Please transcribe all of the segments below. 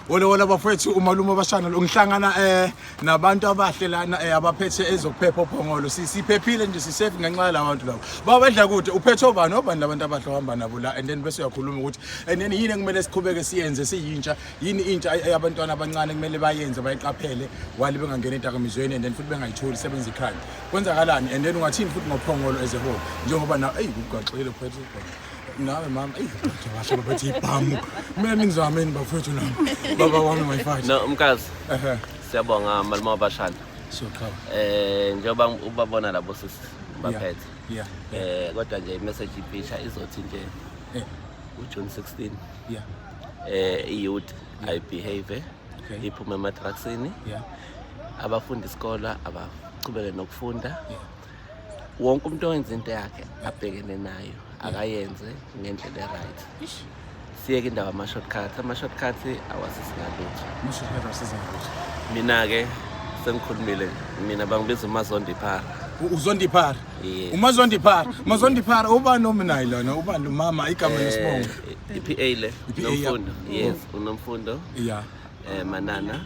Wole wole bafethu umalume obashana lo ngihlangana eh nabantu abahle lana eh abaphethe ezokuphepha ophongolo sisiphephile nje sisafe ngenxa yala bantu labo baba badla kude uphethe obani obani labantu abahle ohamba nabo la and then bese uyakhuluma ukuthi and then yini ekumele siqhubeke siyenze siyintsha yini intsha abantwana abancane kumele bayenze bayiqaphele wali bengangena edakamizweni and then futhi bengayitholi sebenza ikhaya kwenzakalani and then ungathini futhi ngophongolo as a whole njengoba na eyi kugaxile phethe nawe mama washo babethi ibhamu kumele ningizameni bafowethu nami baba wami mayifati no mkazi siyabonga malima wabashana siyoqhaba eh njengoba ubabona labo sisi baphethe yeah eh kodwa nje imessage iphisha izothi nje eh. uJune 16 yeah eh iyouth i behave eh? okay. iphume ematraksini yeah. abafundi isikolo abaqhubeke nokufunda yeah. wonke umuntu owenza into yakhe abhekene nayo akayenze ngendlela e-right siyeke indawo ama-shortcut ama-shortcut awasisingalutho mina-ke sengikhulumile mina bangibiza umazondiphara uzondiphara umazondiphara mazondiphara ubani ominayi lona ubani lomama igama eh, lesibongo i-p a le nomfundo yes unomfundo ya um eh, manana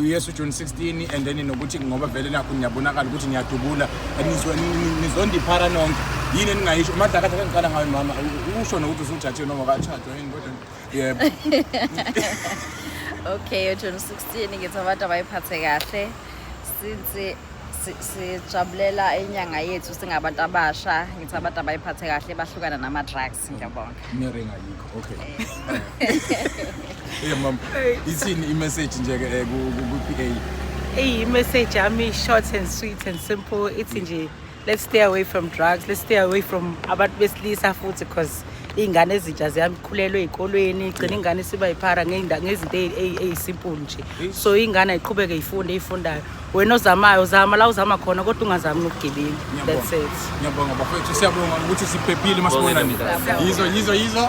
uyesu june 16 and then nokuthi ngoba vele nakho niyabonakala ukuthi niyadubula nizondiphara nonke yini eningayisho umadlakatha kangiqala ngayo mama usho nokuthi usujathiwe noma katshajwa yini kodwa yebo okay ujune 16 ngithi abantu abayiphathe kahle since sijabulela inyanga yethu singabantu abasha ngithi abantu abayiphathe kahle bahlukana nama-drugs ngiyabonga Okay. Yeah mom. Ithini i-message nje ke eh, ku- ku- ku-PA? Hey, message yami short and sweet and simple. Ithi nje let's stay away from drugs. Let's stay away from abantu besilisa futhi because iy'ngane ezintsha ziyamkhulelwa ey'kolweni igcina ingane isiba yiphara ngey'nda- ngezinto eyi- eyi- eyisimple nje so ingane ayiqhubeke ifunde eyifundayo wena ozamayo uzama la uzama khona kodwa ungazami ngobugebengu that's it ngiyabonga bafethu siyabonga ukuthi siphephile masibonani yizo yizo yizo